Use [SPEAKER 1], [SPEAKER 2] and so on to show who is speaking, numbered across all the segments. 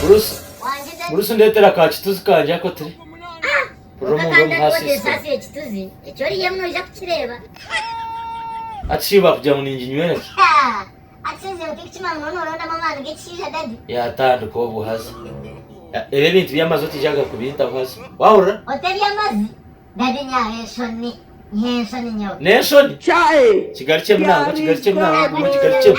[SPEAKER 1] Burusi, burusi ndetera ka kituzi kangye ako turi. Kurira omu nda omu hasi isiko. Ati shiba kugira ngu ninginywera ki? Yatandika obwo haza. Ya- Ebi ebintu by'amazi otijaga kubintaho haza. Wahurira?
[SPEAKER 2] N'enshoni.
[SPEAKER 1] Kigarukye munango, kigarukye munango, guma okigarukyemu.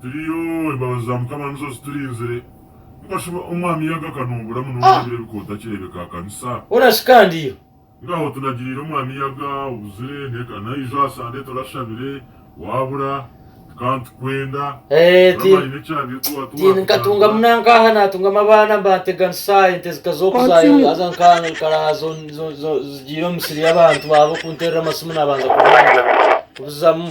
[SPEAKER 1] Turiyo,
[SPEAKER 3] embabazi za Mukama nizo ziturinzire. Mukashoma Omwami yaga akanumbura munonga ebiro ebikoota kirebeka aha kanisa. Hona shi kandi yo.
[SPEAKER 1] Ngaho
[SPEAKER 3] tunagiriire Omwami yaga, obuzire, neka naijo aha Sande turashabire, wabura, tukaba nitukwenda. Eeh, ti, Murama aine ekyabire ku wa, ti ti
[SPEAKER 1] nkatunga waatujangura. munaanka aha naatungamu abaana mba ntega nsa ente zika zooku za Otsimi. haza nka nkarara zo zo zo zigiire omu misiri y'abantu baabo kunterera amasimu nabanza kubanza kubizamu.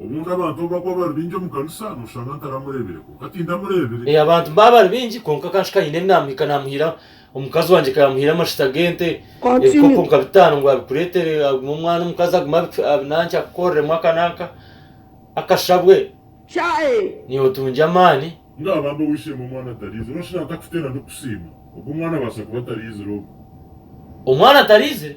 [SPEAKER 1] Obundi
[SPEAKER 3] abantu obu bakuba bari baingi omu kanisa noshanga ntaramureebire kwonka tindamureebire. Ee, abantu baaba bari baingi
[SPEAKER 1] kwonka ka nshusha haine ebinaamuhika naamuhiira, omukazi wangye ka yaamuhiire amashita g'ente, ebikopo nka bitaano ngu abikureetere agume omwana omukazi agume abinankye akukoreremu aka n'aka akashabwe niiwe otungye amaani. Mbwenu abambi ow'eishe-emwe
[SPEAKER 3] omwana atariizire noshanga atakuteera ndikusiima, obwo omwana abaasa kuba atariizire obwo. Omwana
[SPEAKER 1] atariizire?